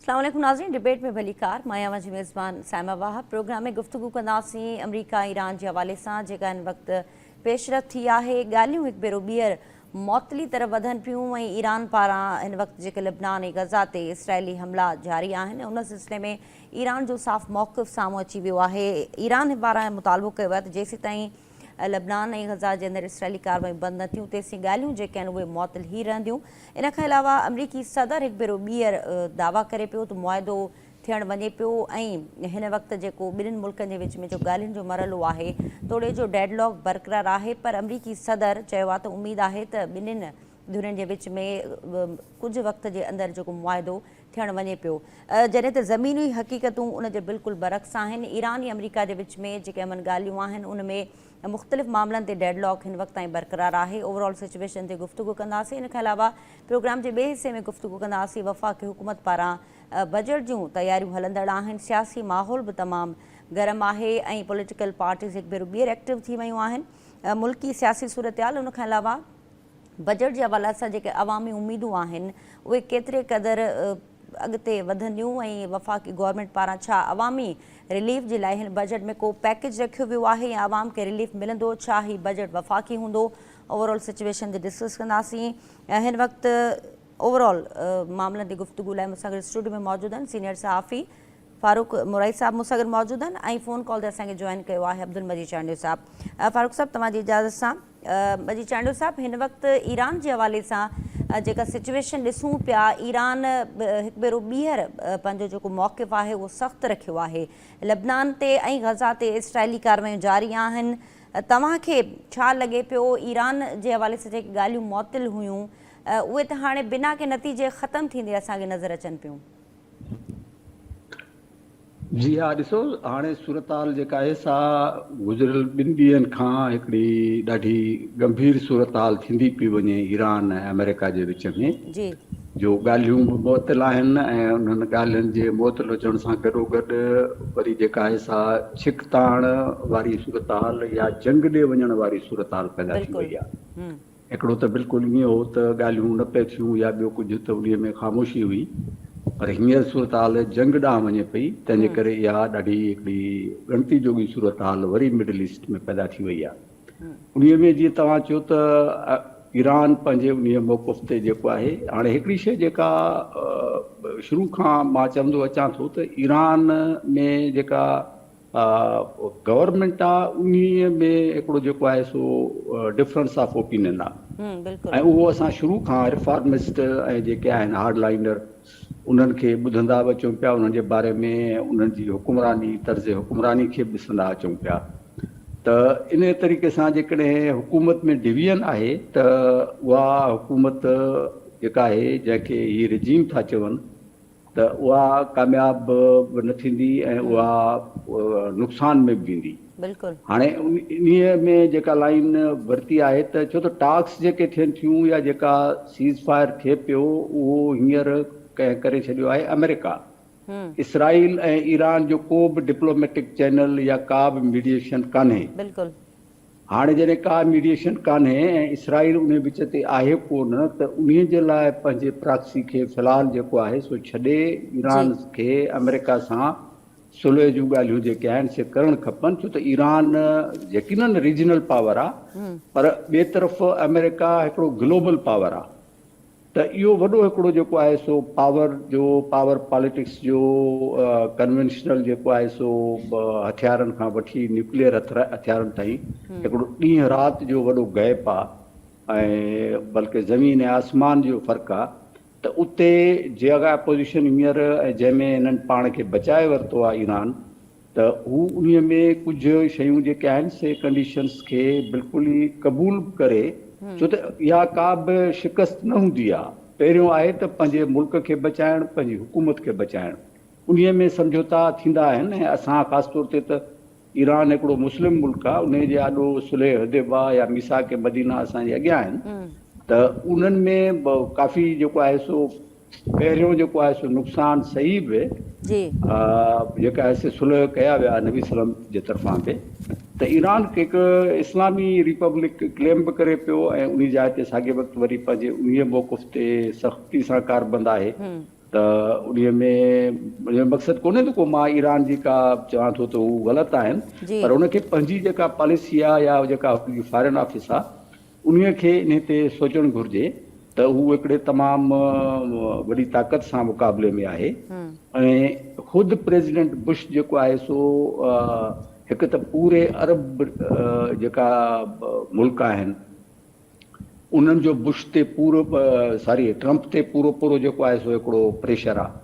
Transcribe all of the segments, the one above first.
اسلام عليڪم ناظرين ڊبيٽ ۾ ڀليڪار مان آهيان اوهان جي ميزبان سائما واهه پروگرام ۾ گفتگو ڪنداسين آمريڪا ايران جي حوالي سان جيڪا هن وقت پيش رفت ٿي آهي ڳالهيون هڪ ڀيرو ٻيهر معطلي طرف وڌن پيون ۽ ايران پاران هن وقت جيڪي لبنان ۽ غزا تي اسرائيلي حملا جاري آهن ان سلسلي ۾ ايران جو صاف موقف سامهون اچي ويو آهي. ايران پاران مطالبو ڪيو ويو آهي ته جيسيتائين لبنان ۽ غزه جي اندر اسرائيلي ڪاروايون بند نه ٿيون تيسين ڳالهيون جيڪي آهن اهي معطل هي رهنديون. ان کان علاوه آمريڪي صدر هڪ ڀيرو ٻيهر دعويٰ ڪري پيو ته معاهدو ٿيڻ وڃي پيو ۽ هن وقت جيڪو ٻنهين ملڪن جي وچ ۾ جو ڳالهين جو مرحلو آهي توڙي جو ڊيڊ لاڪ برقرار آهي پر آمريڪي صدر چيو آهي ته اميد آهي ته ٻنهين ڌرين جي وچ ۾ ڪجهه وقت جي اندر جيڪو معاهدو ٿيڻ وڃي پيو جڏهن ته زميني حقيقتون ان جي بلڪل برعڪس آهن ايران ۽ آمريڪا جي وچ ۾ جيڪي امن ڳالهيون آهن ان ۾ مختلف معاملن تي ڊيڊ لاڪ هن وقت تائين برقرار آهي اوور آل سچويشن تي گفتگو ڪنداسين ان کان علاوه پروگرام جي ٻئي حصي ۾ گفتگو ڪنداسين وفاقي حڪومت پاران بجيٽ جون تياريون هلندڙ آهن سياسي ماحول به تمام گرم آهي ۽ پوليٽيڪل پارٽيز هڪ ڀيرو ٻيهر ايڪٽو ٿي ويون آهن ملڪي سياسي صورتحال ان کان علاوه بجيٽ جي حوالي سان جيڪي عوامي اميدون آهن اهي ڪيتري قدر اڳتي وڌنديون ۽ وفاقي گورنمينٽ پاران ڇا عوامي رليف جي لاء هن بجيٽ ۾ ڪو پيڪيج رکيو ويو آهي يا عوام کي رليف ملندو ڇا هي بجيٽ وفاقي هوندو اوورآل سچويشن تي ڊسڪس ڪنداسين هن وقت اوورآل معاملن تي گفتگو لاء مون سان گڏ اسٽوڊيو ۾ موجود آهن سينيئر صحافي فاروق مرائي صاحب مون سان گڏ موجود آهن ۽ فون ڪال تي اسان کي جوائن ڪيو آهي عبدالمجيد چانڊيو صاحب فاروق صاحب توهان جي اجازت سان جي چانڊيو صاحب هن وقت ايران جي حوالي سان جيڪا سچويشن ڏسون پيا ايران هڪ ڀيرو ٻيهر پنهنجو جيڪو موقف آهي اهو سخت رکيو آهي لبنان تي ۽ غزا تي اسرائيلي ڪاروايون جاري آهن توهان کي ڇا لڳي پيو ايران جي حوالي سان جيڪي ڳالهيون معطل هيون اهي ته هاڻي بنا ڪنهن نتيجي ختم ٿيندي اسان کي نظر اچن پيون جي ها ڏسو هاڻي صورتحال جيڪا آهي سا گذريل ٻن ڏينهن کان هڪڙي ڏاڍي ڳنڀير صورتحال ٿيندي پئي وڃي ايران ۽ آمريڪا جي وچ ۾ جي جو ڳالهيون به معطل آهن ۽ انهن ڳالهين جي معطل هجڻ سان گڏو گڏ وري جيڪا آهي سا ڇڪتاڻ واري صورتحال يا جنگ ڏي وڃڻ واري صورتحال پيدا ٿي وئي آهي هڪڙو ته بلڪل ائين هو ته ڳالهيون نه پئي ٿيون يا ٻيو ڪجهه ته انهيء ۾ خاموشي هئي پر هينئر صورتحال جنگ ڏانهن وڃي پئي تنهن جي ڪري اها ڏاڍي هڪڙي ڳڻتي جوڳي صورتحال وري مڊل ايسٽ ۾ پيدا ٿي وئي آهي انهيء ۾ جيئن توهان چيو ته ايران پنهنجي انهيء موقف تي جيڪو آهي هاڻي هڪڙي شيء جيڪا شروع کان مان چوندو اچان ٿو ته ايران ۾ جيڪا آ گورنمينٽ آ انهي ۾ هڪڙو جيڪو آهي سو ڊفرنس آف اوپينين آ ھمم بلڪل ۽ اهو اسان شروع کان رفارمسٽ ۽ جيڪي آهن هارڊ لائينڊر انهن کي ٻڌندا به اچون پيا انهن جي باري ۾ انهن جي حڪمراني طرز حڪمراني کي به ڏسندا اچون پيا ته انهي طريقي سان جيڪڏهن حڪومت ۾ ڊويزن آهي ته اها حڪومت جيڪا آهي جنهن کي هي رجيم ٿا چون ته اها ڪامياب به نه ٿيندي ۽ اها نقصان ۾ به ويندي. بلڪل. هاڻي انهي ۾ جيڪا لائين ورتي آهي ته ڇو ته ٽاڪس جيڪي ٿين ٿيون يا جيڪا سيز فائر ٿئي پيو اهو هينئر ڪنهن ڪري ڇڏيو آهي آمريڪا. اسرائيل ۽ ايران جو ڪو به ڊپلوميٽڪ چينل يا ڪا به ميڊيئيشن ڪانهي. بلڪل. هاڻي جڏهن ڪا ميڊيئيشن ڪانهي ۽ اسرائيل انهي وچ تي آهي ڪونه ته انهي جي لاء پنهنجي پراڪسي کي في الحال جيڪو آهي سو ڇڏي جي. ايران کي آمريڪا سان صلح جون ڳالهيون جيڪي آهن سي ڪرڻ کپن ڇو ته ايران يقيناً ريجنل پاور آ پر ٻي طرف آمريڪا هڪڙو گلوبل پاور آ. ته اهو وڏو هڪڙو جيڪو آهي سو پاور جو پاور پاليٽڪس جو ڪنوينشنل جيڪو آهي سو هٿيارن کان وٺي نيوڪليئر هٿيارن تائين هڪڙو ڏينهن رات جو وڏو گئپ آ ۽ بلڪه زمين ۽ آسمان جو فرق آ ته اتي جيڪا اپوزيشن هينئر جنهن ۾ هنن پاڻ کي بچائي ورتو آ ايران ته هو انهي ۾ ڪجهه شيون جيڪي آهن سي ڪنڊيشنز کي بلڪل ئي قبول به ڪري ڇو ته اها ڪا به شڪست نه هوندي آهي پهريون آهي ته پنهنجي ملڪ کي بچائڻ پنهنجي حڪومت کي بچائڻ انهي ۾ سمجهوتا ٿيندا آهن ۽ اسان خاص طور تي ته ايران هڪڙو مسلم ملڪ آهي انهي جي آڏو صلح حديبه يا ميثاق مدينه اسان جي اڳيان آهن ته انهن ۾ ڪافي جيڪو آهي سو پهريون جيڪو آهي سو نقصان صحيح به جي. جيڪا آهي سي صلح ڪيا ويا آهن نبي سلم جي طرفان به ته ايران هڪ اسلامي ريپبلڪ ڪليم به ڪري پيو ۽ انهي جاء تي ساڳي وقت وري پنهنجي انهي موقف تي سختي سان ڪاربند آهي ته انهي ۾ انهي مقصد ڪونهي ته ڪو مان ايران جي ڪا چوان ٿو ته هو غلط آهن پر ان کي پنهنجي جيڪا پاليسي آهي يا جيڪا فارين آفيس آهي انهيء کي انهيء تي سوچڻ گهرجي ته هو هڪڙي تمام وڏي طاقت سان مقابلي ۾ آهي ۽ خود پريزيڊنٽ بش جيڪو آهي سو هڪ ته پوري عرب جيڪا ملڪ آهن انهن جو بش تي پورو ساري ٽرمپ تي پورو پورو جيڪو آهي سو هڪڙو پريشر آهي.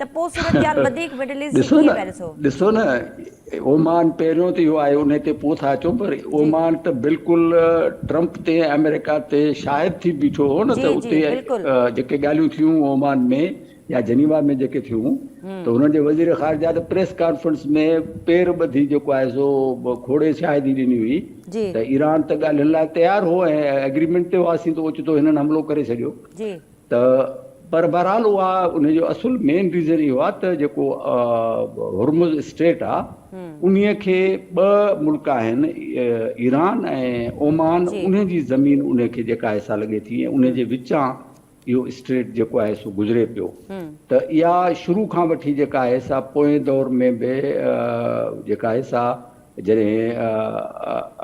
ته پوء صورتحال وڌيڪ مڊل ايسٽ جي ڏسو ڪيئن نه پيا ڏسو؟ ڏسو نه اومان پهريون ته اهو آهي انهي تي پوء ٿا اچون پر جي اومان ته بلڪل ٽرمپ تي آمريڪا تي شاهد ٿي بيٺو هو نه جي ته جي اتي بلڪل جيڪي ڳالهيون ٿيون اومان ۾ يا جنيوا ۾ جيڪي ٿيون ته هن جي وزير خارجه ته پريس ڪانفرنس ۾ پير ٻڌي جيڪو آهي سو کوڙي شاهدي ڏني هئي جي ته ايران ته ڳالهين لاء تيار هو ۽ ايگريمينٽ تي هئاسين ته اوچتو هنن حملو ڪري ڇڏيو جي. ته پر بهرحال اها ان جو اصل مين ريزن اهو آهي ته جيڪو هرمز اسٽريٽ آهي انهي کي ٻه ملڪ آهن ايران ۽ اومان انهي جي زمين انهي کي جيڪا حصا لڳي ٿي ۽ انهي جي وچان اهو اسٽريٽ جيڪو آهي سو گذري پيو ته اها شروع کان وٺي جيڪا آهي سا پوئين دور ۾ به جيڪا آهي سا جڏهن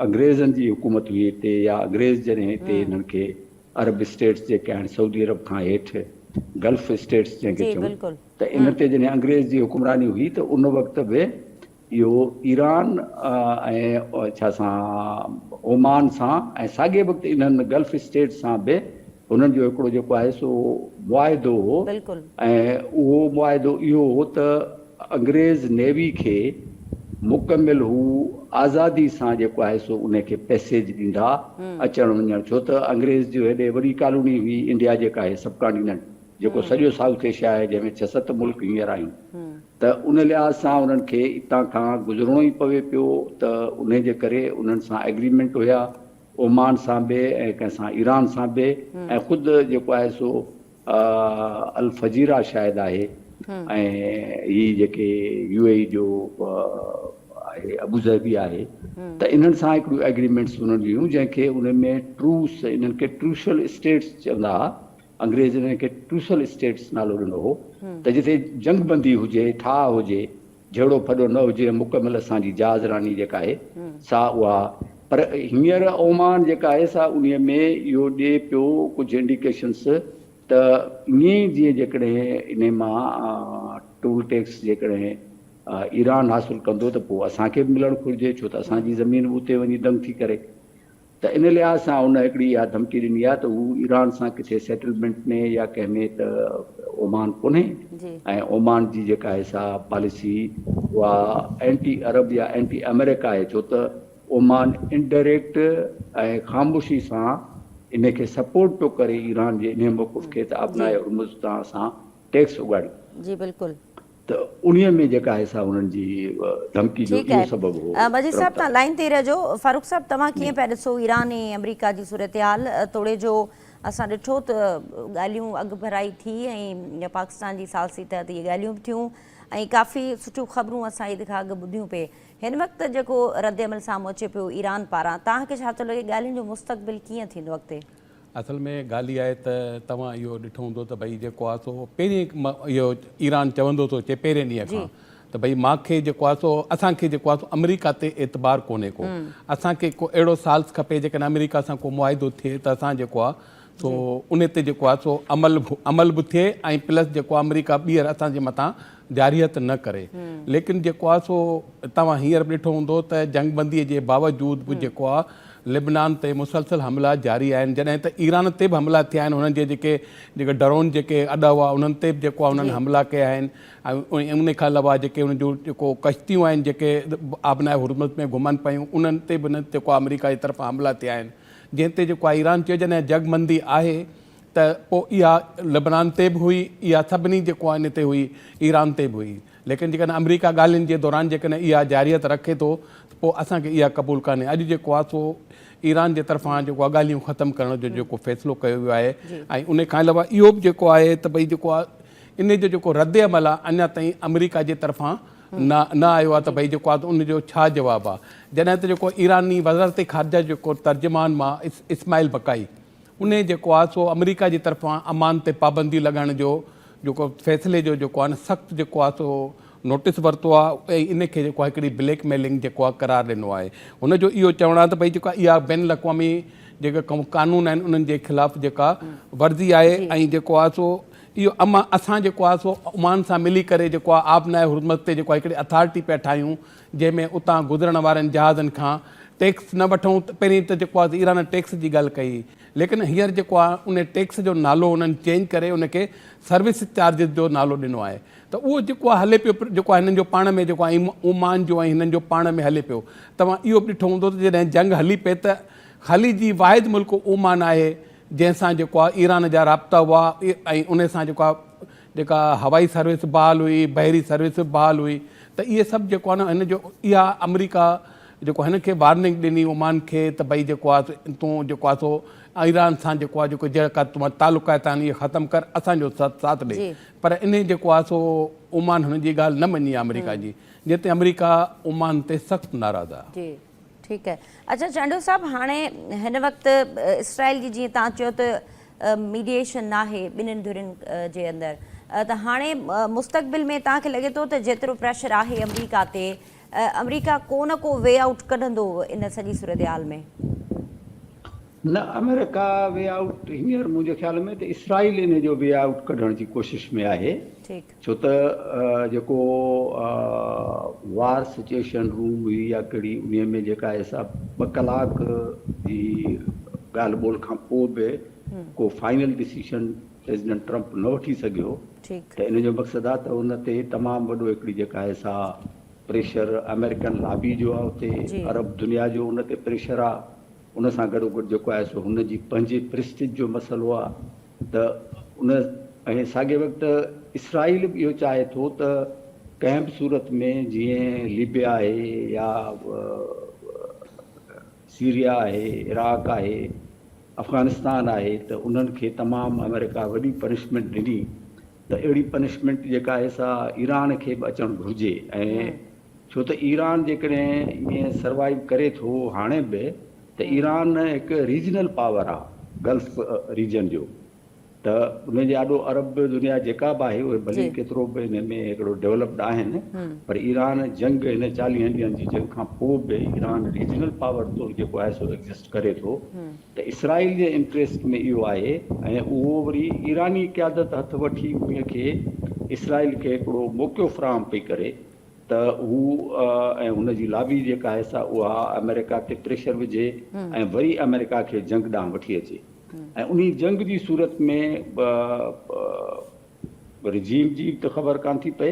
انگريزن جي حڪومت هئي هتي يا انگريز جڏهن هتي هنن کي عرب اسٽيٽس جيڪي آهن سعودي عرب کان هيٺ گلف اسٽيٽس جنهن کي جي چون بلڪل ته ان هم. تي جڏهن انگريز جي حڪمراني هئي ته ان وقت به اهو ايران ۽ ڇا سان اومان سان ۽ ساڳئي وقت انهن گلف اسٽيٽس سان به هنن جو هڪڙو جيڪو آهي سو معاهدو هو بلڪل. ۽ اهو معاهدو اهو هو ته انگريز نيوي کي مڪمل هو آزادي سان جيڪو آهي سو انهي کي پئسيج ڏيندا اچڻ وڃڻ ڇو ته انگريز جو هيڏي وڏي ڪالوني هئي انڊيا جيڪا آهي سب ڪانٽيننٽ جيڪو سڄو سائوٿ ايشيا آهي جنهن ۾ ڇهه ست ملڪ هينئر آهن ته ان لحاظ سان انهن کي اتان کان گذرڻو ئي پوي پيو ته انهي جي ڪري انهن سان ايگريمنٽ هيا اومان سان به ۽ ڪنهن سان ايران سان به ۽ خود جيڪو آهي سو آء الفجيرا شايد آهي ۽ هي جيڪي يو اي اي جو آهي ابوظهبي آهي ته انهن سان هڪڙيون ايگريمينٽس انهن جون هيون جنهن کي انهن ۾ ٽروس انهن کي ٽروشل اسٽيٽس چوندا هئا انگريز انهن کي ٽروشل اسٽيٽس نالو ڏنو هو ته جتي جنگ بندي هجي ٺاهه هجي جهيڙو ڦڏو نه هجي مڪمل اسان جي جهاز راني جيڪا آهي سا اها پر هينئر اومان جيڪا آهي سا انهي ۾ اهو ڏي پيو ڪجهه انڊيڪيشنس ته ائين جي جيڪڏهن انهي مان ٽول ٽيڪس جيڪڏهن ايران حاصل ڪندو ته پوء اسان کي به ملڻ گهرجي ڇو ته اسان جي زمين به اتي وڃي دنگ ٿي ڪري ته ان لحاظ سان ان هڪڙي اها ڌمڪي ڏني آهي ته هو ايران سان ڪٿي سيٽلمينٽ ۾ يا ڪنهن ۾ ته اومان ڪونهي ۽ اومان جي جيڪا آهي سا پاليسي اها اينٽي عرب يا اينٽي آمريڪا آهي ڇو ته اومان انڊريڪٽ ۽ خاموشي سان ان کي سپورٽ پيو ڪري ايران جي انهي موقف کي ته آبناء هرمز تان اسان ٽيڪس اڳاڙيون. جي بلڪل. ته انهيء ۾ جيڪا آهي سا هنن جي ڌمڪي جو ٺيڪ اهو آهي سبب هو مجيد صاحب ترمتا. تهان لائين تي ئي رهجو فاروق صاحب توهان جي. ڪيئن پيا ڏسو ايران ۽ آمريڪا جي صورتحال توڙي جو اسان ڏٺو ته ڳالهيون اڳڀرائي ٿي ۽ پاڪستان جي ثالثي تحت اهي ڳالهيون به ٿيون ۽ ڪافي سٺيون خبرون اسان عيد کان اڳ ٻڌيون پي هن وقت جيڪو رد عمل سامهون اچي پيو ايران پاران تهان کي ڇا ٿو لڳي ڳالهين جو مستقبل ڪيئن ٿيندو اڳتي. اصل ۾ ڳالهه اها آهي ته توهان اهو ڏٺو هوندو ته ڀئي جيڪو آهي سو پهرين اهو ايران چوندو ٿو اچي پهرين ڏينهن کان ته ڀئي مان کي جيڪو آهي سو اسان کي جيڪو آهي سو آمريڪا تي اعتبار ڪونهي ڪو اسان کي ڪو اهڙو سالس کپي جيڪڏهن آمريڪا سان ڪو معاهدو ٿئي ته اسان جيڪو آهي سو ان تي جيڪو آهي سو عمل عمل به ٿئي ۽ پلس جيڪو آمريڪا ٻيهر اسان جي مٿان جارحيت نه ڪري ليڪن جيڪو آهي سو توهان هينئر به ڏٺو هوندو ته جنگ بندي جي باوجود به جيڪو آهي لبنان تي مسلسل حملا جاري آهن جڏهن ته ايران تي به حملا ٿيا آهن انهن جي جيڪي جيڪي ڊرون جيڪي اڏا هئا انهن تي به جيڪو آهي انهن حملا ڪيا آهن ۽ ان کان علاوه جيڪي انهن جون جيڪو ڪشتيون آهن جيڪي آبناء هرمز ۾ گهمن پيون انهن تي به جيڪو آمريڪا جي طرفان حملا ٿيا آهن جنهن تي جيڪو آهي ايران چيو جڏهن جنگ بندي آهي ته پوء اها لبنان تي به هئي، اها سڀني جي ڪواني تي هئي، ايران تي به هئي. ليڪن جيڪڏهن آمريڪا ڳالهين جي دوران جيڪڏهن اها جارحيت رکي ٿو ته پوء اسان کي اها قبول ڪانهي. اڄ جيڪو آهي سو ايران جي طرفان جيڪو آهي ڳالهيون ختم ڪرڻ جو جيڪو فيصلو ڪيو ويو آهي ۽ ان کان علاوه اهو به جيڪو آهي ته ڀئي جيڪو آهي ان جو جيڪو رد عمل آهي اڃا تائين آمريڪا جي طرفان نه نه آيو آهي ته ڀئي جيڪو آهي ان جو ڇا جواب آهي. جڏهن ته جيڪو ايراني وزارت خارجه جيڪو ترجمان مان اسماعيل بقائي انهي جيڪو آهي سو آمريڪا جي طرفان عمان تي پابندي لڳائڻ جو جيڪو فيصلي جو جيڪو آهي نه سخت جيڪو آهي سو نوٽيس ورتو آهي ۽ انهي کي جيڪو آهي هڪڙي بليڪ ميلنگ جيڪو آهي قرار ڏنو آهي هن جو اهو چوڻ آهي ته ڀئي جيڪو اها بين الاقوامي جيڪا قانون آهن انهن جي خلاف جيڪا ورزي آهي ۽ جيڪو آهي سو اهو امان اسان جيڪو آهي سو عمان سان ملي ڪري جيڪو آهي آب نائي هرمز تي جيڪو آهي هڪڙي اٿارٽي پيا ٺاهيون جنهن ۾ اتان گذرڻ وارين جهازن کان ٽيڪس نه وٺون ته پهرين ته جيڪو آهي ايران ٽيڪس جي ڳالهه ڪئي ليڪن هينئر جيڪو آهي ان ٽيڪس جو نالو انهن چينج ڪري ان کي سروس چارجز جو نالو ڏنو آهي ته اهو جيڪو آهي هلي پيو جيڪو آهي هنن جو پاڻ ۾ جيڪو آهي اومان جو ۽ هنن جو پاڻ ۾ هلي پيو توهان اهو به ڏٺو هوندو ته جڏهن جنگ هلي پئي ته خليجي واحد ملڪ اومان آهي جنهن سان جيڪو آهي ايران جا رابطا هئا ۽ ان سان جيڪو آهي جيڪا هوائي سروس به بحال هئي، بحري سروس به بحال هئي ته اهي سڀ جيڪو آهي نه هن جو اها آمريڪا جيڪو هن کي وارننگ ڏني عمان کي ته بئي جيڪو آهي تون جيڪو آهي سو ايران سان جيڪو آهي جيڪو جيڪا توهان تعلقات آهن اهي ختم ڪر اسان جو ساٿ ڏي پر انهي جيڪو آهي سو عمان هن جي ڳالهه نه مڃي آمريڪا جي جنهن تي آمريڪا عمان تي سخت ناراض آهي. ٺيڪ آهي اچا چانڊيو صاحب هاڻي هن وقت اسرائيل جي جيئن تان چيو ته ميڊيشن ناهي ٻنهن ڌرين جي اندر ته هاڻي مستقبل ۾ تان کي لڳي ٿو ته جيترو پريشر آهي امريڪا تي امريڪا ڪو نه ڪو وي آئوٽ ڪڍندو ان سڄي صورتحال ۾ نه امريڪا وي آئوٽ هينئر منهنجي خيال ۾ ته اسرائيل ان جو وي آئوٽ ڪڍڻ جي ڪوشش ۾ آهي ٺيڪ ڇو ته جيڪو وار سچوئيشن روم هئي يا ڪهڙي انهي ۾ جيڪا ايسا ٻه ڪلاڪ جي ڳالهه ٻولهه کان پوء به ڪو فائنل ڊسيشن پريزيڊنٽ ٽرمپ نه وٺي سگهيو ته ان جو مقصد آهي ته ان تي تمام وڏو هڪڙي جيڪا ايسا پريشر آمريڪن لابي جو آهي اتي عرب دنيا جو ان تي پريشر آهي ان سان گڏو گڏ جيڪو آهي سو هن جي پنهنجي پريسٽيج جو مسئلو آهي. ته ان ۽ ساڳئي وقت اسرائيل به اهو چاهي ٿو ته ڪنهن به صورت ۾ جيئن ليبيا آهي يا سيريا آهي، عراق آهي، افغانستان آهي ته انهن کي تمام آمريڪا وڏي پنشمينٽ ڏني ته اهڙي پنشمينٽ جيڪا آهي سا ايران کي به اچڻ گهرجي ۽ ڇو ته ايران جيڪڏهن ائين سروائيو ڪري ٿو هاڻي به ته ايران هڪ ريجنل پاور آهي گلف ريجن جو ته ان جي آڏو عرب دنيا جيڪا به آهي اهي ڀلي ڪيترو به ان ۾ هڪڙو ڊيولپڊ آهن پر ايران جنگ هن چاليهن ڏينهن جي جنگ کان پوء به ايران ريجنل پاور طور جيڪو آهي سو ايگزسٽ ڪري ٿو ته اسرائيل جي انٽريسٽ ۾ اهو آهي ۽ اهو وري ايراني قيادت هٿ وٺي ان کي اسرائيل کي هڪڙو موقعو فراهم پئي ڪري ته هو ۽ هن جي لابي جيڪا آهي سا اها آمريڪا تي پريشر وجهي ۽ وري آمريڪا کي جنگ ڏانهن وٺي اچي ۽ انهي جنگ جي صورت ۾ رجيم جي به ته خبر ڪانه ٿي پئي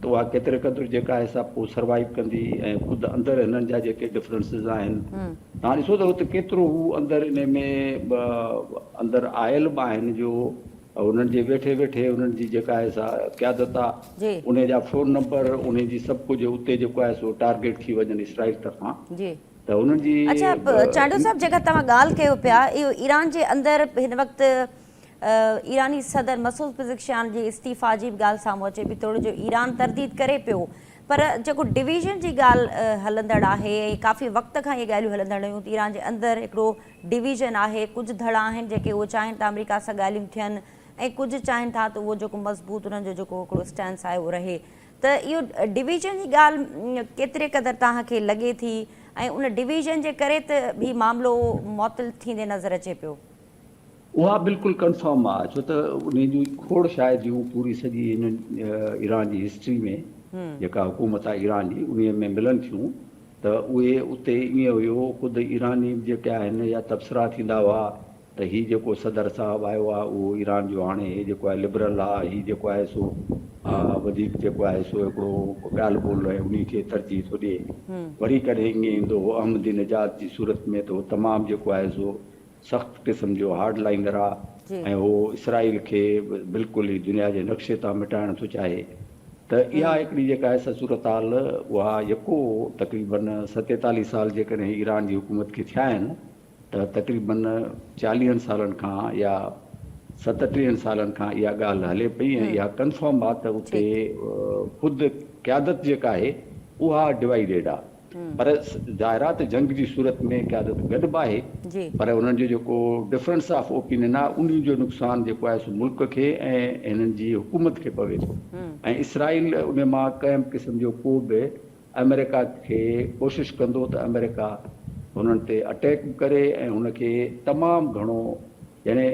ته اها ڪيتري قدر جيڪا آهي سا پوء سروائيو ڪندي ۽ خود اندر هنن جا جيڪي ڊفرنسز آهن توهان ڏسو ته هت ڪيترو هو اندر انهي ۾ اندر آيل به آهن جو انهن جي ويٺي ويٺي انهن جي جيڪا آهي سا قيادت آ انهي جا فون نمبر انهي جي سڀ ڪجهه اتي جيڪو آهي سو ٽارگيٽ ٿي وڃن اسرائيل طرفان ته انهن جي اڇا چانڊيو صاحب جيڪا توهان ڳالهه ڪيو پيا اهو ايران جي اندر هن وقت ايراني صدر مسعود پزڪشيان جي استعيفا جي به ڳالهه سامهون اچي پي توڙي جو ايران ترديد ڪري پيو پر جيڪو ڊويزن جي ڳالهه هلندڙ آهي ۽ ڪافي وقت کان اهي ڳالهيون هلندڙ هيون ته ايران جي اندر هڪڙو ڊويزن آهي، ڪجهه ڌڙا آهن جيڪي اهو چاهين ته آمريڪا سان ڳالهيون ٿين ۽ ڪجهه چاهين ٿا ته اهو جيڪو مضبوط انهن جو جيڪو هڪڙو اسٽينس آهي اهو رهي ته اهو ڊويزن جي ڳالهه ڪيتري قدر توهان کي لڳي ٿي ۽ ان ڊويزن جي ڪري ته هي معاملو معطل ٿيندي نظر اچي پيو. اها بلڪل ڪنفرم آ ڇو ته انهي جون کوڙ شايد جون پوري سڄي هن ايران جي هسٽري ۾ جيڪا حڪومت آ ايران جي انهي ۾ ملن ٿيون ته اهي اتي ائين هيو خود ايراني جيڪي آهن يا تبصرا ٿيندا هئا ته هي جيڪو صدر صاحب آيو آ اهو ايران جو هاڻي هي جيڪو آهي لبرل آ هي جيڪو آهي سو وڌيڪ جيڪو آهي سو هڪڙو ڳالهه ٻولهه ۽ انهي کي ترجيح ٿو ڏي وري ڪڏهن ائين ايندو هو احمدي نژاد جي صورت ۾ ته هو تمام جيڪو آهي سو سخت قسم جو هارڊ لائنر آ ۽ هو اسرائيل کي بلڪل ئي دنيا جي نقشي تان مٽائڻ ٿو چاهي ته اها هڪڙي جيڪا آهي سا صورتحال اها يڪو تقريبا ستيتاليهه سال جيڪڏهن ايران جي حڪومت کي ٿيا آهن ته تقريبا چاليهن سالن کان يا ستٽيهن سالن کان اها ڳالهه هلي پئي ۽ اها ڪنفرم آ ته اتي خود قيادت جيڪا آهي اها ڊوائيڊيڊ آ. پر ظاهرات جنگ جي صورت ۾ قيادت گڏ به آهي پر انهن جو جيڪو ڊفرنس آف اوپينين آهي ان جو نقصان جيڪو آهي سو ملڪ کي ۽ هنن جي حڪومت کي پوي ٿو ۽ اسرائيل ان مان ڪنهن به قسم جو ڪو به آمريڪا کي ڪوشش ڪندو ته آمريڪا هنن تي اٽيڪ به ڪري ۽ هن کي تمام گهڻو يعني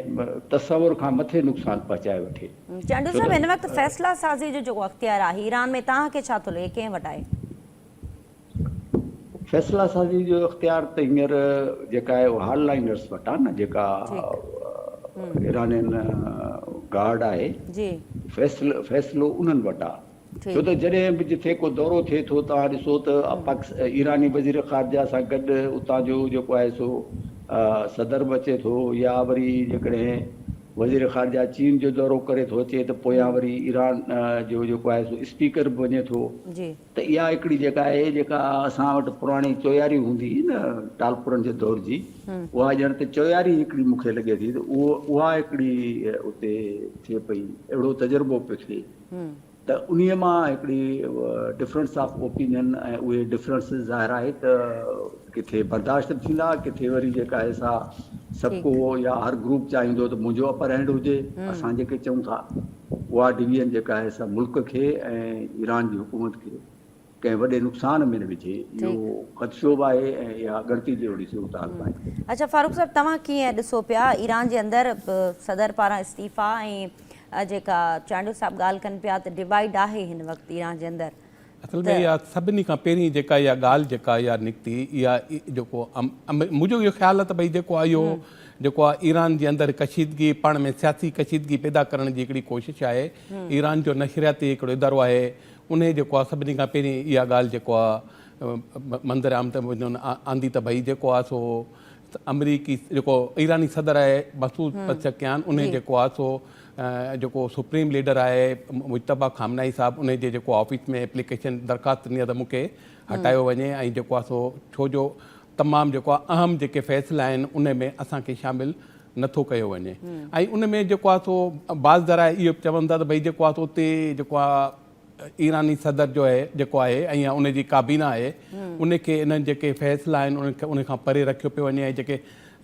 تصور کان مٿي نقصان پهچائي وٺي. چانڊيو صاحب هن وقت فيصلا سازي جو جيڪو اختيار آهي ايران ۾ توهان کي ڇا ٿو لڳي ڪنهن وٽ آهي؟ فيصلا سازي جو اختيار ته هينئر جيڪا آهي اها هارڊ لائنرس وٽ آهي نه جيڪا ايرانين گارڊ آهي جي فيصلو فيصلو انهن وٽ آهي ڇو ته جڏهن به جتي ڪو دورو ٿئي ٿو توهان ڏسو ته ايراني وزير خارجه سان گڏ اتان جو جيڪو آهي سو صدر به اچي ٿو يا وري جيڪڏهن وزير خارجه چين جو دورو ڪري ٿو اچي ته پويان وري ايران جو جيڪو آهي سو اسپيڪر به وڃي ٿو ته اها هڪڙي جيڪا آهي جيڪا اسان وٽ پراڻي چوياري هوندي هئي نه ٽالپرن جي دور جي اها ڄڻ ته چوياري هڪڙي مون کي لڳي ٿي ته اها هڪڙي اتي ٿئي پئي اهڙو تجربو پئي ٿئي ته انهي مان هڪڙي ڊفرنس آف اوپينين ۽ اهي ڊفرنسز ظاهر آهي ته ڪٿي برداشت به ٿيندا ڪٿي وري جيڪا آهي سا سڀ ڪو يا هر گروپ چاهيندو ته منهنجو اپر هينڊ هجي اسان جيڪي چئون ٿا اها ڊويزن جيڪا آهي سا ملڪ کي ۽ ايران جي حڪومت کي ڪنهن وڏي نقصان ۾ نه وجهي اهو خدشو به آهي ۽ اها ڳڻتي جهڙي صورتحال به آهي. اڇا فاروق صاحب توهان ڪيئن ڏسو پيا ايران جي اندر صدر پاران استعيفا ۽ جيڪا چانڊيو صاحب ڳالهه ڪن پيا ته ڊوائيڊ آهي هن وقت ايران جي اندر اصل ۾ اها سڀني کان پهرين جيڪا اها ڳالهه جيڪا اها نڪتي اها جيڪو منهنجو اهو خيال آهي ته ڀئي جيڪو آهي اهو جيڪو آهي ايران جي اندر ڪشيدگي پاڻ ۾ سياسي ڪشيدگي پيدا ڪرڻ جي هڪڙي ڪوشش آهي ايران جو نشرياتي هڪڙو ادارو آهي ان جيڪو آهي سڀني کان پهرين اها ڳالهه جيڪو آهي منظر عام ته آندي ته ڀئي جيڪو آهي سو آمريڪي جيڪو ايراني صدر آهي مسعود پسڪيان ان جيڪو آهي سو جيڪو سپريم ليڊر آهي مجتبيٰ خامنائي صاحب انهي جي جيڪو آفيس ۾ ايپليڪيشن درخواست ڏني آهي ته مون کي هٽايو وڃي ۽ جيڪو آهي سو ڇو جو تمام جيڪو آهي اهم جيڪي فيصلا آهن ان ۾ اسان کي شامل نه ٿو ڪيو وڃي ۽ ان ۾ جيڪو آهي سو بعض ذرائع اهو به چون ٿا ته ڀئي جيڪو آهي سو اتي جيڪو آهي ايراني صدر جو آهي جيڪو آهي ۽ ان جي ڪابينا آهي ان کي انهن جيڪي فيصلا آهن انهن کي ان کان پري رکيو پيو وڃي ۽ جيڪي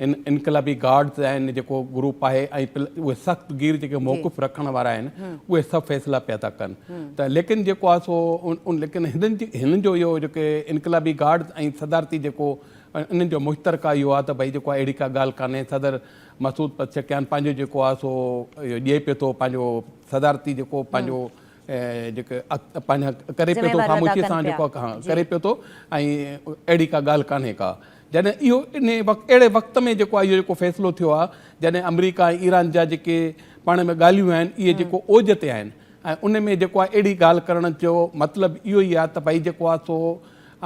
ان انقلابي گارڊز آهن جيڪو گروپ آهي ۽ اهي سخت گير جيڪي موقف رکڻ وارا آهن اهي سڀ فيصلا پيا ٿا ڪن ته ليڪن جيڪو آهي سو ان ليڪن هنن جي هنن جو اهو جيڪي انقلابي گارڊز ۽ صدارتي جيڪو انهن جو مشترڪه اهو آهي ته ڀئي جيڪو اهڙي ڪا ڳالهه ڪانهي صدر مسعود پزشڪيان پنهنجو جيڪو آهي سو اهو ڏئي پيو ٿو پنهنجو صدارتي جيڪو پنهنجو جيڪي پنهنجا ڪري پيو ٿو خاموشي سان جيڪو ڪري پيو ٿو ۽ اهڙي ڪا ڳالهه ڪانهي ڪا جڏهن اهو ان وقت اهڙي وقت ۾ جيڪو اهو جيڪو فيصلو ٿيو آهي جڏهن آمريڪا ۽ ايران جا جيڪي پاڻ ۾ ڳالهيون آهن اهي جيڪو اوج تي آهن ۽ ان ۾ جيڪو اهڙي ڳالهه ڪرڻ جو مطلب اهو ئي آهي ته ڀائی جيڪو آهي سو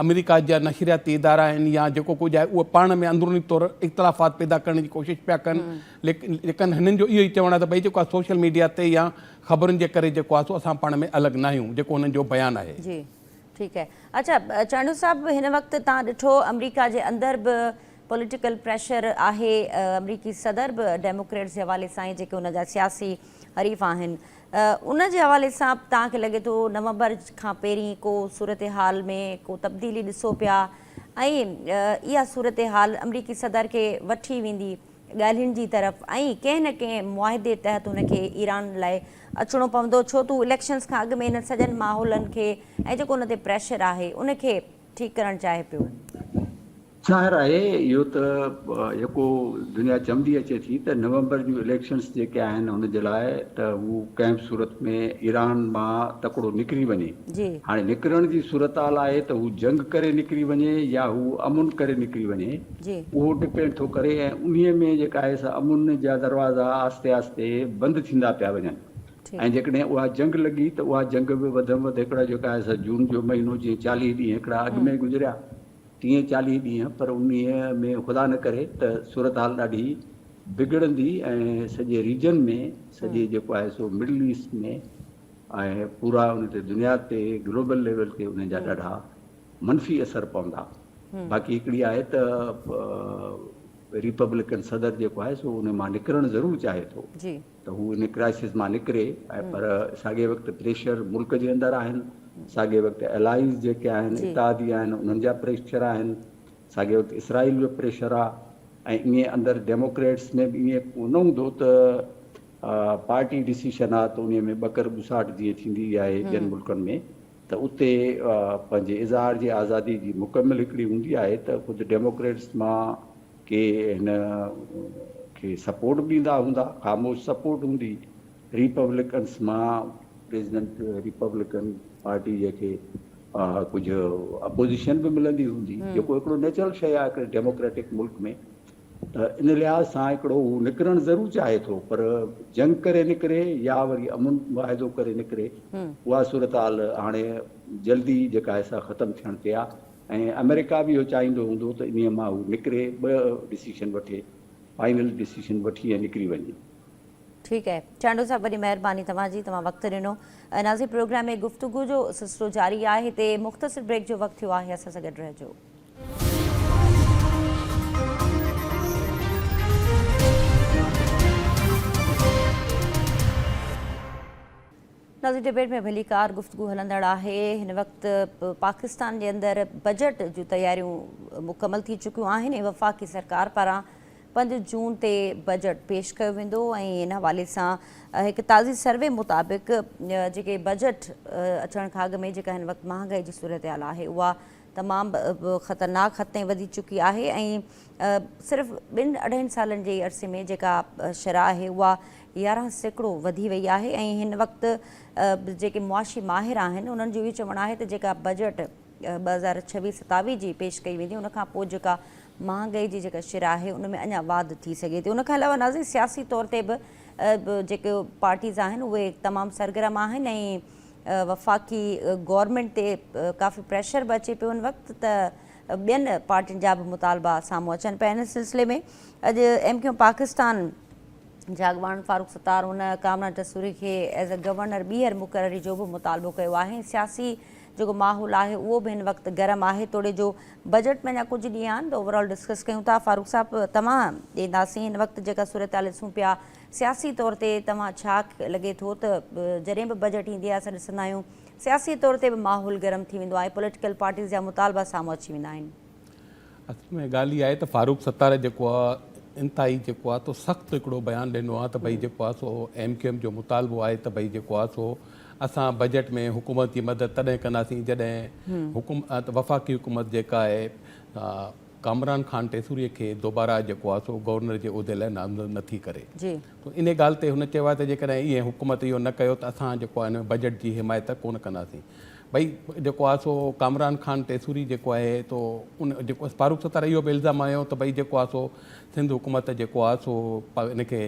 آمريڪا جا نشرياتي ادارا آهن يا جيڪو ڪجهه آهي اهي پاڻ ۾ اندروني طور اختلافات پيدا ڪرڻ جي ڪوشش پيا ڪن ليڪن هنن جو اهو ئي چوڻ آهي ته ڀئي جيڪو آهي سوشل ميڊيا تي يا خبرن جي ڪري جيڪو آهي سو اسان پاڻ ۾ الڳ ناهيون جيڪو هنن جو بيان آهي. جي ٺيڪ آهي اڇا چانڊيو صاحب هن وقت تان ڏٺو آمريڪا جي اندر به پوليٽيڪل پريشر آهي آمريڪي صدر به ڊيموڪريٽس جي حوالي سان جيڪي ان جا سياسي حريف آهن ان جي حوالي سان توهان کي لڳي ٿو نومبر کان پهرين ڪو صورتحال ۾ ڪو تبديلي ڏسو پيا ۽ اها صورتحال آمريڪي صدر کي وٺي ويندي ڳالهين جي طرف ۽ ڪنهن نه ڪنهن معاهدي تحت هن کي ايران لاء اچڻو پوندو ڇو ته هو اليڪشنز کان اڳ ۾ انهن سڄن ماحولن کي ۽ جيڪو ان تي پريشر آهي ان کي ٺيڪ ڪرڻ چاهي پيو. ظاهر آهي اهو ته يڪو دنيا چوندي اچي ٿي ته نومبر جون اليڪشنز جيڪي آهن ان جي لاء ته هو ڪنهن به صورت ۾ ايران مان تڪڙو نڪري وڃي جي. هاڻي نڪرڻ جي صورتحال آهي ته هو جنگ ڪري نڪري وڃي يا هو امن ڪري نڪري وڃي جي. اهو ڊپينڊ ٿو ڪري ۽ انهي ۾ جيڪا آهي سا امن جا دروازا آهستي آهستي بند ٿيندا پيا وڃن ٺيڪ. ۽ جيڪڏهن اها جنگ لڳي ته اها جنگ به وڌ م وڌ هڪڙا جيڪا آهي سا جون جو مهينو جيئن چاليهه ڏينهن هڪڙا اڳ م ھمم. گذريا ٽيهين چاليهين ڏينهن پر انهيء ۾ خدا نه ڪري ته صورتحال ڏاڍي بگڙندي ۽ سڄي ريجن ۾ سڄي جيڪو آهي سو مڊل ايسٽ ۾ ۽ پورا ان تي دنيا تي گلوبل ليول تي انهن جا ڏاڍا منفي اثر پوندا باقي هڪڙي آهي ته ريپبلڪن صدر جيڪو آهي سو ان مان نڪرڻ ضرور چاهي ٿو. ته هو ان ڪرائسس مان نڪري ۽ پر ساڳئي وقت پريشر ملڪ جي اندر آهن، ساڳئي وقت الائيز جيڪي آهن، اتحادي آهن انهن جا پريشر آهن، ساڳئي وقت اسرائيل جو پريشر آ ۽ ايئن اندر ڊيموڪريٽس ۾ به ايئن نه هوندو ته پارٽي ڊسيشن آ ته انهي ۾ ٻڪر ٻساٽ جيئن ٿيندي ئي آهي ٻين ملڪن ۾ ته اتي پنهنجي اظهار جي آزادي جي مڪمل هڪڙي هوندي آهي ته خود ڊيموڪريٽس مان ڪي هن کي سپورٽ به ڏيندا هوندا، خاموش سپورٽ هوندي ريپبليڪنس مان، پريزيڊنٽ ريپبليڪن پارٽي جنهن کي ڪجهه اپوزيشن به ملندي هوندي جيڪو هڪڙو نيچرل شيء آهي هڪڙي ڊيموڪريٽڪ ملڪ ۾ ته ان لحاظ سان هڪڙو هو نڪرڻ ضرور چاهي ٿو پر جنگ ڪري نڪري يا وري امن معاهدو ڪري نڪري اها صورتحال هاڻي جلدي جيڪا آهي سا ختم ٿيڻ تي آهي ۽ آمريڪا به اهو چاهيندو هوندو ته انهيء مان هو نڪري ٻه ڊسيشن وٺي فائنل ڊسيشن وٺي ۽ نڪري وڃي. ٺيڪ آهي چانڊيو صاحب وڏي مهرباني توهان جي توهان وقت ڏنو ناظرين پروگرام ۾ گفتگو جو سلسلو جاري آهي هتي مختصر بريڪ جو وقت ٿيو آهي اسان سان گڏ رهجو. نازڪ ڊبيٽ ۾ ڀليڪار گفتگو هلندڙ آهي، هن وقت پاڪستان جي اندر بجيٽ جون تياريون مڪمل ٿي چڪيون آهن ۽ وفاقي سرڪار پاران پنج جون تي بجيٽ پيش ڪيو ويندو ۽ ان حوالي سان هڪ تازي سروي مطابق جيڪي بجيٽ اچڻ کان اڳ ۾ جيڪا هن وقت مهانگائي جي صورتحال آهي اها تمام خطرناڪ حد تائين وڌي چڪي آهي ۽ صرف ٻن اڍائين سالن جي عرصي ۾ جيڪا شرح آهي اها يارهن سيڪڙو وڌي وئي آهي ۽ هن وقت جيڪي معاشي ماهر آهن انهن جو اهو چوڻ آهي ته جيڪا بجيٽ ٻه هزار ڇويهه ستاويهه جي پيش ڪئي ويندي ان کان پوء جيڪا مهانگائي جي جيڪا شرح آهي ان ۾ اڃا واڌ ٿي سگهي ٿي ان کان علاوه ناظرين سياسي طور تي به جيڪي پارٽيز آهن اهي تمام سرگرم آهن ۽ وفاقي گورنمينٽ تي ڪافي پريشر به اچي پيو ان وقت ته ٻين پارٽين جا به مطالبا سامهون اچن پيا ان سلسلي ۾ اڄ ايم ڪيو پاڪستان جا اڳواڻ فاروق ستار ان ڪامران ٽسوري کي ايز اي گورنر ٻيهر مقرري جو به مطالبو ڪيو آهي سياسي جيڪو ماحول آهي اهو به هن وقت گرم آهي توڙي جو بجيٽ ۾ اڃا ڪجهه ڏينهن آهن ته اوورال ڊسڪس ڪيون ٿا فاروق صاحب توهان ڏينداسين هن وقت جيڪا صورتحال ڏسون پيا سياسي طور تي توهان ڇا لڳي ٿو ته جڏهن به بجيٽ ايندي آهي اسان ڏسندا آهيون سياسي طور تي به ماحول گرم ٿي ويندو آهي پوليٽيڪل پارٽيز جا مطالبا سامهون اچي ويندا آهن. اصل ۾ ڳالهه اها آهي ته فاروق ستار جيڪو آهي انتهائي جيڪو آهي تو سخت هڪڙو بيان ڏنو آهي ته ڀئي جيڪو آهي سو ايم ڪيو ايم جو مطالبو آهي ته ڀئي جيڪو آهي سو اسان بجيٽ ۾ حڪومت جي مدد تڏهن ڪنداسين جڏهن حڪومت وفاقي حڪومت جيڪا آهي ڪامران خان ٽيسوري کي دوباره جيڪو آهي سو گورنر جي عهدي لاء نامزد نه ٿي ڪري ته ان ڳالهه تي هن چيو آهي ته جيڪڏهن ايئن حڪومت اهو نه ڪيو ته اسان جيڪو آهي ان ۾ بجيٽ جي حمايت ڪونه ڪنداسين ڀئي جيڪو آهي سو ڪامران خان ٽيسوري جيڪو آهي تو ان جيڪو فاروق ستار اهو به الزام هنيو ته ڀئي جيڪو آهي سو سنڌ حڪومت جيڪو آهي سو ان کي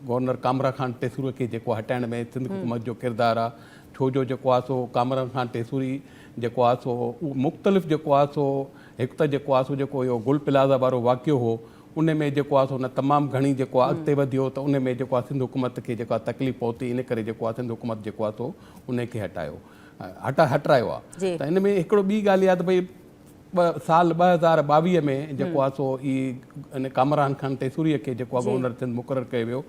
گورنر ڪامران خان ٽيسوري کي جيڪو هٽائڻ ۾ سنڌ حڪومت جو ڪردار آهي ڇو جو جيڪو آهي سو ڪامران خان ٽيسوري جيڪو حادثو هو اهو مختلف جيڪو حادثو هو هڪ ته جيڪو حادثو جيڪو اهو گل پلازا وارو واقعو هو ان ۾ جيڪو حادثو نه تمام گهڻي جيڪو آهي اڳتي وڌيو ته ان ۾ جيڪو آهي سنڌ حڪومت کي جيڪو آهي تڪليف پهتي ان ڪري جيڪو آهي سنڌ حڪومت جيڪو آهي سو ان کي هٽايو هٽا هٽرايو آهي ته ان ۾ هڪڙو ٻي ڳالهه اها ته ڀئي ٻه سال ٻه هزار ٻاويهه ۾ جيڪو آهي سو اي ان ڪامران خان ٽيسوريء کي جيڪو آهي گورنر سنڌ مقرر ڪيو ويو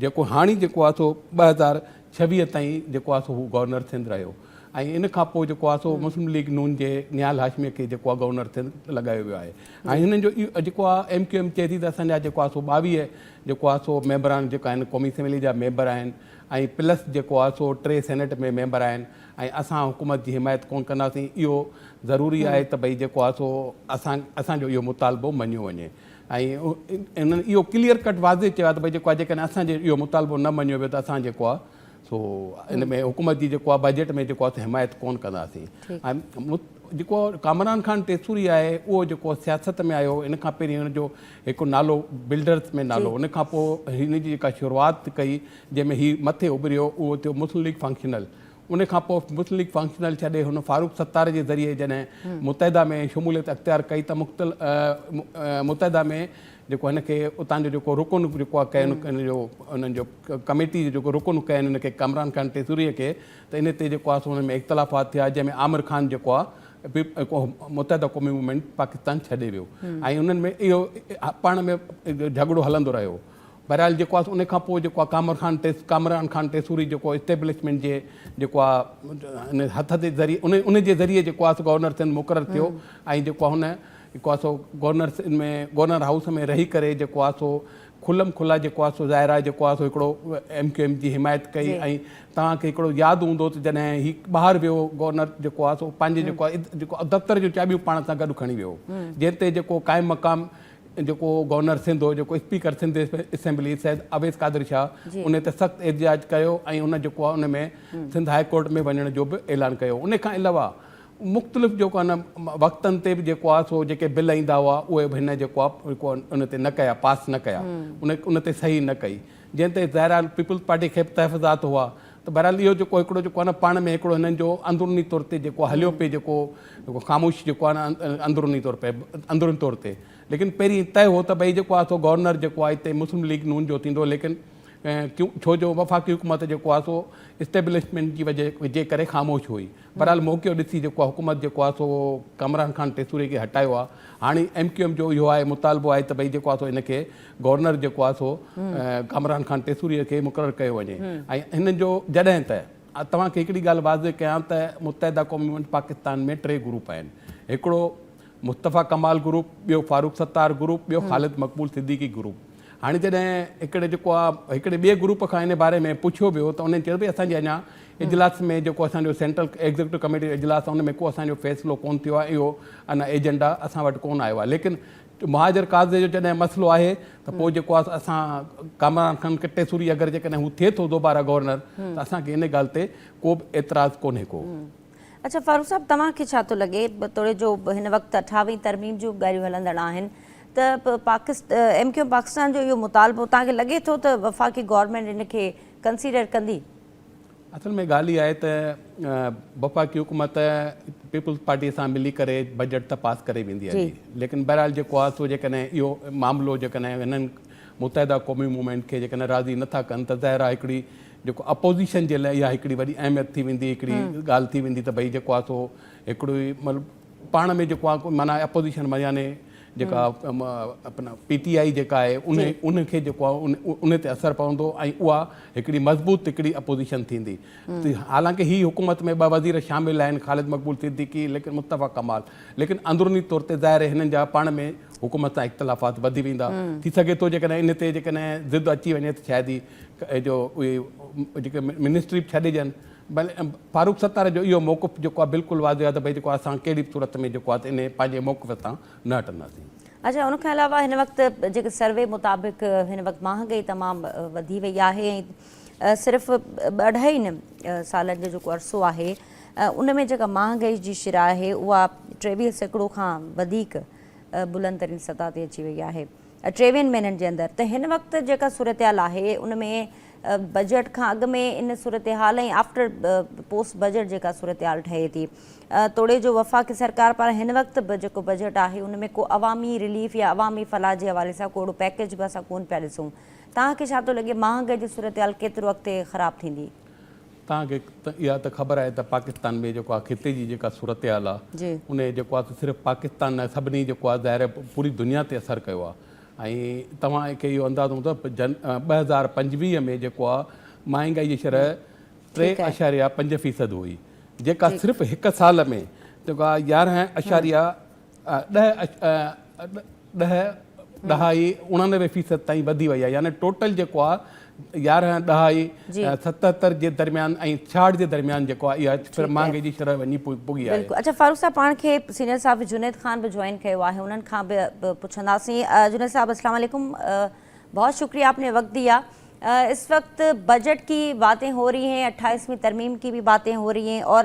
جيڪو هاڻي جيڪو آهي سو ٻه هزار ڇويهه تائين جيڪو آهي سو هو گورنر سنڌ رهيو ۽ ان کان پوء جيڪو آهي سو مسلم ليگ نون جي نهال هاشميء کي جيڪو آهي گورنر سنڌ لڳايو ويو آهي ۽ هنن جو اهو جيڪو آهي ايم ڪيو ايم چئي ٿي ته اسان جا جيڪو آهي سو ٻاويهه جيڪو آهي سو ميمبر آهن جيڪا هن قومي اسيملي جا ميمبر آهن ۽ پلس جيڪو آهي سو ٽي سينيٽ ۾ ميمبر آهن ۽ اسان حڪومت جي حمايت ڪون ڪنداسين اهو ضروري آهي ته ڀئي جيڪو آهي سو اسان اسان جو اهو مطالبو مڃيو وڃي ۽ انهن اهو ڪليئر ڪٽ واضح چيو آهي ته ڀئي جيڪو آهي جيڪڏهن اسان جو اهو مطالبو نه مڃيو ويو ته اسان جيڪو آهي سو ان ۾ حڪومت جي جيڪو آهي بجيٽ ۾ جيڪو آهي حمايت ڪون ڪنداسين ۽ جيڪو ڪامران خان ٽيسوري آهي اهو جيڪو سياست ۾ آيو ان کان پهرين هن جو هڪ نالو بلڊرس ۾ نالو ان کان پوء هن جي جيڪا شروعات ڪئي جنهن ۾ هي مٿي اڀريو اهو ٿيو مسلم ليگ فنڪشنل ان کان پوء مسلم ليگ فنڪشنل ڇڏي هن فاروق ستار جي ذريعي جڏهن متحده ۾ شموليت اختيار ڪئي ته مختلف متحده ۾ جيڪو هن کي اتان جو جيڪو رڪن جيڪو آهي ڪين ان جو انهن جو ڪميٽي جو جيڪو رڪن ڪين ان کي ڪامران خان ٽيسوريء کي ته ان تي جيڪو آهي سو ان ۾ اختلافات ٿيا جنهن ۾ عامر خان جيڪو آهي متحده قومي موومينٽ پاڪستان ڇڏي ويو ۽ انهن ۾ اهو پاڻ ۾ جهڳڙو هلندو رهيو بهرحال جيڪو آهي ان کان پوء جيڪو آهي ڪامر خان ٽيس ڪامران خان ٽيسوري جيڪو اسٽيبلشمينٽ جي جيڪو آهي هٿ جي ذريعي ان ان جي ذريعي جيڪو آهي سو گورنر سنڌ مقرر ٿيو ۽ جيڪو آهي هن جيڪو آهي سو گورنرس ان ۾ گورنر هائوس ۾ رهي ڪري جيڪو آهي سو کلم کلا جيڪو آهي سو ظاهر آهي جيڪو آهي سو هڪڙو ايم ڪيو ايم جي حمايت ڪئي ۽ توهان کي هڪڙو ياد هوندو ته جڏهن هي ٻاهر ويو گورنر جيڪو آهي سو پنهنجي جيڪو آهي جيڪو آهي دفتر جون چاٻيون پاڻ سان گڏ کڻي ويو جنهن تي جيڪو قائم مقام جيڪو گورنر سنڌ هو جيڪو اسپيڪر سنڌ اسيمبلي سيد اويس قادر شاهه ان تي سخت احتجاج ڪيو ۽ ان جيڪو آهي ان ۾ سنڌ هاء ڪورٽ ۾ وڃڻ جو به اعلان ڪيو ان کان علاوه مختلف جيڪو آهي نه وقتن تي به جيڪو آهي سو جيڪي بل ايندا هئا اهي به هن جيڪو آهي ان تي نه ڪيا پاس نه ڪيا ان ان تي صحيح نه ڪئي جنهن تي ظاهر آهي پيپلز پارٽي کي به تحفظات هئا ته بهرحال اهو جيڪو هڪڙو جيڪو آهي نه پاڻ ۾ هڪڙو هنن جو اندروني طور تي جيڪو هليو پئي جيڪو خاموش جيڪو آهي نه اندروني طور پئي اندروني طور تي ليڪن پهرين طئي هو ته ڀئي جيڪو آهي سو گورنر جيڪو آهي هتي مسلم ليگ نون جو ٿيندو ليڪن ڇو جو وفاقي حڪومت جيڪو آهي سو اسٽيبلشمينٽ جي وجهه جي ڪري خاموش هئي بھرحال موقعو ڏسي جيڪو آ حڪومت جيڪو آ سو ڪامران خان ٽيسوري کي ھٽايو آ ھاڻي ايم ڪيو ايم جو اھو آھي مطالبو آھي ته ڀئي جيڪو آ سو ھن کي گورنر جيڪو آ سو ڪامران خان ٽيسوري کي مقرر ڪيو وڃي ۽ ھنن جو جڏھن ته توھان کي ھڪڙي ڳالھ واضح ڪيان ته متحده قوم مومينٽ پاڪستان ۾ ٽي گروپ آھن ھڪڙو مصطفيٰ ڪمال گروپ ٻيو فاروق ستار گروپ ٻيو خالد مقبول صديقي گروپ هاڻي جڏهن هڪڙي جيڪو آ هڪڙي ٻئي گروپ کان ان باري ۾ پڇيو ويو ته انهن چيو ڀئي اسان جي اڃا اجلاس ۾ جيڪو اسان جو سينٽرل ايگزيڪٽو ڪميٽي جو اجلاس آ ان ۾ ڪو اسان جو فيصلو ڪون ٿيو آ اهو انا ايجنڊا اسان وٽ ڪون آيو آ ليڪن مهاجر قاضي جو جڏهن مسئلو آهي ته پوء جيڪو آ اسان ڪامران خان ڪٽي سوري اگر جيڪڏهن هو ٿئي ٿو دوباره گورنر ته اسان کي ان ڳالهه تي ڪو به اعتراض ڪونهي ڪو. اڇا فاروق صاحب توهان کي ڇا ٿو لڳي توڙي جو هن وقت اٺاويهين ترميم جون ڳالهيون هلندڙ آهن ته ايم ڪيو پاڪستان جو اهو مطالبو توهان کي لڳي ٿو ته وفاقي گورنمينٽ ان کي ڪنسيڊر ڪندي؟ اصل ۾ ڳالهه اها آهي ته وفاقي حڪومت پيپلز پارٽي سان ملي ڪري بجيٽ ته پاس ڪري ويندي آهي ليڪن بهرحال جيڪو آهي سو جيڪڏهن اهو معاملو جيڪڏهن هنن متحده قومي موومينٽ کي جيڪڏهن راضي نٿا ڪن ته ظاهر آهي هڪڙي جيڪو اپوزيشن جي لاء اها هڪڙي وڏي اهميت ٿي ويندي هڪڙي ڳالهه ٿي ويندي ته ڀئي جيڪو آهي سو هڪڙو ئي مطلب پاڻ ۾ جيڪو آهي معنيٰ اپوزيشن ۾ يعنيٰ جيڪا اپنا پي ٽي آئي جيڪا آهي ان ان کي جيڪو آهي ان تي اثر پوندو ۽ اها هڪڙي مضبوط هڪڙي اپوزيشن ٿيندي حالانڪه هي حڪومت ۾ ٻه وزير شامل آهن خالد مقبول صديقي ليڪن مصطفيٰ ڪمال ليڪن اندروني طور تي ظاهر هنن جا پاڻ ۾ حڪومت سان اختلافات وڌي ويندا ٿي سگهي ٿو جيڪڏهن ان تي جيڪڏهن ضد اچي وڃي ته شايد ئي جو اهي جيڪي منسٽري به ڇڏي ڏين بل فاروق ستار جو اهو موقف جيڪو آهي بلڪل واضح آهي ته ڀئي جيڪو اسان ڪهڙي به صورت ۾ جيڪو آهي انهي پنهنجي موقف تان نه هٽنداسين. اڇا ان کان علاوه هن وقت جيڪي سروي مطابق هن وقت مهانگئي تمام وڌي وئي آهي ۽ صرف ٻه اڍائي نه سالن جو جيڪو عرصو آهي ان ۾ جيڪا مهانگئي جي شرح آهي اها ٽيويهه سيڪڙو کان وڌيڪ بلند ترين سطح تي اچي وئي آهي ٽيويهن مهينن جي اندر ته هن وقت جيڪا صورتحال آهي ان ۾ بجيٽ کان اڳ ۾ ان صورتحال ۽ آفٽر پوسٽ بجيٽ جيڪا صورتحال ٺهي ٿي توڙي جو وفاقي سرڪار پاران هن وقت به جيڪو بجيٽ آهي ان ۾ ڪو عوامي رليف يا عوامي فلاح جي حوالي سان ڪوڙو پيڪيج به اسان ڪون پيا ڏسون توهان کي ڇا ٿو لڳي مهانگائي جي صورتحال ڪيترو اڳتي خراب ٿيندي؟ توهان کي اها ته خبر آهي ته پاڪستان ۾ جيڪو آهي خطي جي جيڪا صورتحال آهي ان جي جيڪو آهي سو صرف پاڪستان نه سڀني جيڪو آهي ظاهر آهي پوري دنيا تي اثر ڪيو آهي ۽ توهان کي اهو اندازو هوندو ته جن ٻه هزار پنجويهه ۾ جيڪو آهي مهانگائي جي شرح ٽي اشاريا پنج فيصد هئي جيڪا صرف هڪ سال ۾ جيڪو آهي يارهن اشاريا ڏهه ڏهه ڏهائي اڻانوي فيصد تائين وڌي وئي آهي يعني ٽوٽل جيڪو آهي يارهن ڏهائي ستهتر جي درميان ۽ ڇاهٺ جي درميان جيڪو آهي اها مهانگي جي شرح وڃي پڳي آهي بلڪل اچا فاروق صاحب پاڻ کي سينيئر صاحب جنيد خان به جوائن ڪيو آهي انهن کان به پڇنداسين جنيد صاحب السلام عليڪم بہت شڪريه آپ ني وقت ديا اس وقت بجيٽ ڪي باتين هو رهي هين اٺائيسوين ترميم ڪي به باتين هو رهي هين اور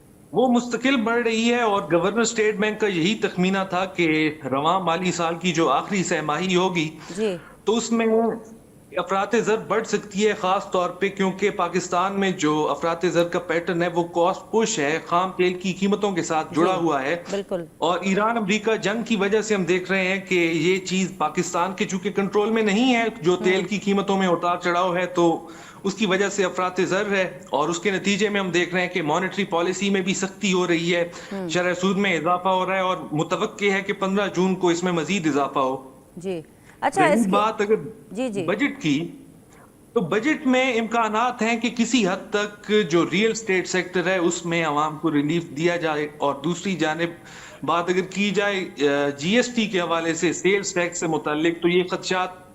وو مستقل بڙھ رھي ھي اور گورنر اسٽيٽ بينڪ ڪا يھي تخمينا ٿا ڪي روان مالي سال ڪي جو آخري سه ماھي ھوگي جي تو اس مين افراط زر بڙھ سڪتي ھي خاص طور پي ڪيون ڪي پاڪستان مين جو افراط زر ڪا پيٽرن ھي وو ڪاسٽ پش ھي خام تيل ڪي قيمتون ڪي ساٿ جڙا جي ھوا ھي بلڪل اور ايران امريڪا جنگ ڪي وجھ سي ھم ديک رھي ھي ڪي يي چيز پاڪستان ڪي چونڪي ڪنٽرول مين نھي ھي جو تيل ڪي قيمتون مين اتار چڙاو ھي تو اس کی وجه سي افراط زر هي اور اس ڪي نتيجي مي هم ديک رهي هين ڪي مانيٽري پاليسي مي بي سختي هو رهي هي شرح سود مي اضافه هو رهي هي اور متوقع هي ڪي پندرهن جون ڪو اس مي مزيد اضافه هو جي اچھا اس ڪي بات اگر جي جي بجيٽ ڪي تو بجيٽ مي امڪانات هين ڪي ڪسي حد تڪ جو ريئل اسٽيٽ سيڪٽر هي اس مي عوام ڪو ريليف ديا جائي اور دوسري جانب بات اگر ڪي جائي جي ايس ٽي ڪي حوالي سي سيلس ٽيڪس سي متعلق تو يه خدشات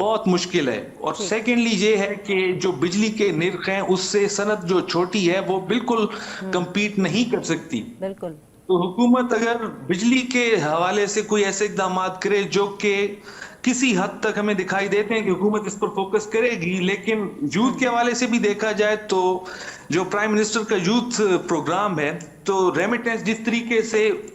بهت مشڪل هي اور سيڪنڊلي يي هي ڪي جو بجلي ڪي نرخ هين اس سي صنعت جو ڇوٽي هي وو بلڪل ڪمپيٽ نهين ڪر سڪتي تو حڪومت اگر بجلي ڪي حوالي سي ڪوئي ايسي اقدامات ڪري جو ڪي ڪسي حد تڪ همين دکائي ديتي هين ڪي حڪومت اس پر فوڪس ڪري گي ليڪن يوٿ ڪي حوالي سي بي ديکا جائي تو جو پرائم منسٽر ڪا يوٿ پروگرام هي تو ريميٽنس جس طريقي سي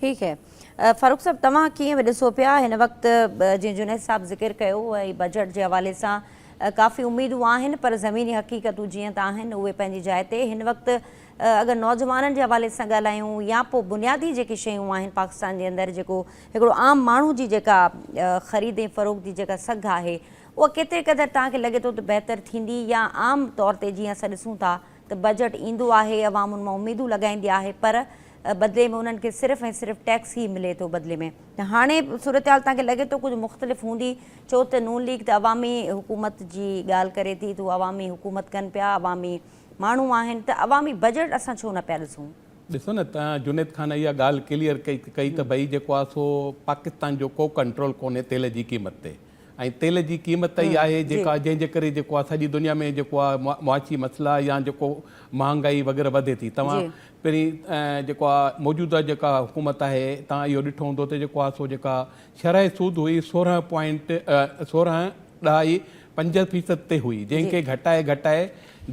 ٺيڪ هي فاروق صاحب توهان ڪيئن به ڏسو پيا هن وقت جي جنيد صاحب ذڪر ڪيو ۽ بجيٽ جي حوالي سان ڪافي اميدون آهن پر زميني حقيقتون جيئن ته آهن اهي پنهنجي جاء تي هن وقت اگر نوجوانن جي حوالي سان ڳالهايون يا پوء بنيادي جيڪي شيون آهن پاڪستان جي اندر جيڪو هڪڙو عام ماڻهو جي جيڪا خريد ۽ فروغ جي جيڪا سگهه آهي اها ڪيتري قدر توهان کي لڳي ٿو ته بهتر ٿيندي يا عام طور تي جيئن اسان ڏسون ٿا ته بجيٽ ايندو آهي عوام ان مان اميدون لڳائيندي آهي پر بدلي ۾ انهن کي صرف ۽ صرف ٽيڪس ئي ملي ٿو بدلي ۾ هاڻي صورتحال توهان کي لڳي ٿو ڪجهه مختلف هوندي ڇو ته نون ليگ ته عوامي حڪومت جي ڳالهه ڪري ٿي ته عوامي حڪومت ڪن پيا عوامي ماڻهو آهن ته عوامي بجيٽ اسان ڇو نه پيا ڏسون. ڏسو نه توهان جنيد خان اها ڳالهه ڪليئر ڪئي ته ڀئي جيڪو آهي سو پاڪستان جو ڪو ڪنٽرول ڪونهي تيل جي قيمت تي ۽ تيل جي قيمت ئي آهي جيڪا جنهن جي ڪري جيڪو آهي سڄي دنيا ۾ جيڪو آهي معاشي مسئلا يا جيڪو مهانگائي وغيره وڌي ٿي توهان پهرين جيڪو آهي موجوده جيڪا حڪومت آهي توهان اهو ڏٺو هوندو ته جيڪو آهي سو جيڪا شرح سود هئي سورهن پوائنٽ سورهن ڏهائي پنج فيصد تي هئي جنهن کي گهٽائي گهٽائي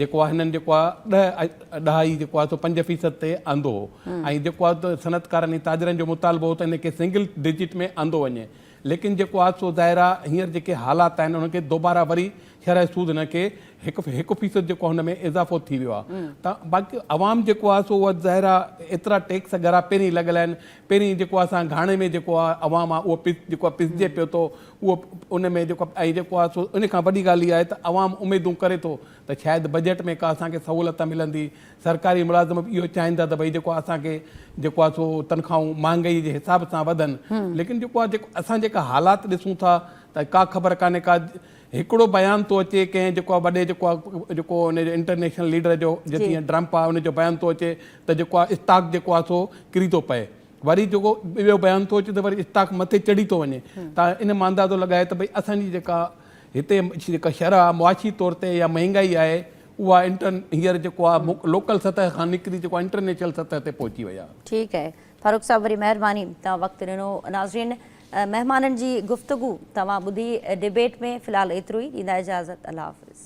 جيڪو آهي هنن جيڪو آهي ڏهه ڏهائي جيڪو آهي سو پنج فيصد تي آندو هو ۽ جيڪو آهي صنعتڪارن ۽ تاجرن جو مطالبو هو ته هن کي سنگل ڊجٽ ۾ آندو وڃي ليڪن جيڪو حادثو ظاهر آ هينئر جيڪي حالات آهن انهن کي دوباره وري شرح سود هن کي هڪ هڪ فيصد جيڪو هن ۾ اضافو ٿي ويو آ ته باقي عوام جيڪو آ سو اها ظاهر آ ايترا ٽيڪس ڳرا پهرين لڳل آهن پهرين جيڪو اسان گهاڻي ۾ جيڪو آ عوام آ اهو پس جيڪو آ پسجي پيو ٿو اهو ان ۾ جيڪو آ ۽ جيڪو آ سو ان کان وڏي ڳالهه اها آهي ته عوام اميدون ڪري ٿو ته شايد بجيٽ ۾ ڪا اسان کي سهولت ملندي سرڪاري ملازم به اهو چاهين ٿا ته ڀئي جيڪو اسان کي جيڪو آهي سو تنخواهون مهانگائي جي حساب سان وڌن ليڪن جيڪو آهي جيڪو اسان جيڪا حالات ڏسون ٿا ته ڪا خبر ڪانهي ڪا هڪڙو بيان ٿو اچي ڪنهن جيڪو آهي وڏي جيڪو آهي جيڪو ان جو انٽرنيشنل ليڊر جو جتي ڊرمپ آهي ان جو بيان ٿو اچي ته جيڪو آهي اسٽاڪ جيڪو آهي سو ڪري ٿو پئي وري جيڪو ٻيو بيان ٿو اچي ته وري اسٽاڪ مٿي چڙهي ٿو وڃي ته ان مان اندازو لڳائي ته ڀئي اسان جي جيڪا هتي جيڪا شرح معاشي طور تي يا مهانگائي آهي اها انٽرن هينئر جيڪو آ لوڪل سطح کان نڪري جيڪو انٽرنيشل سطح تي پهچي وئي آ. ٺيڪ اهي فاروق صاحب وري مهرباني توهان وقت ڏنو ناظرين مهمانن جي گفتگو توهان ٻڌي ڊبيٽ ۾ في الحال ايترو ئي ڏيندا اجازت الله حافظ.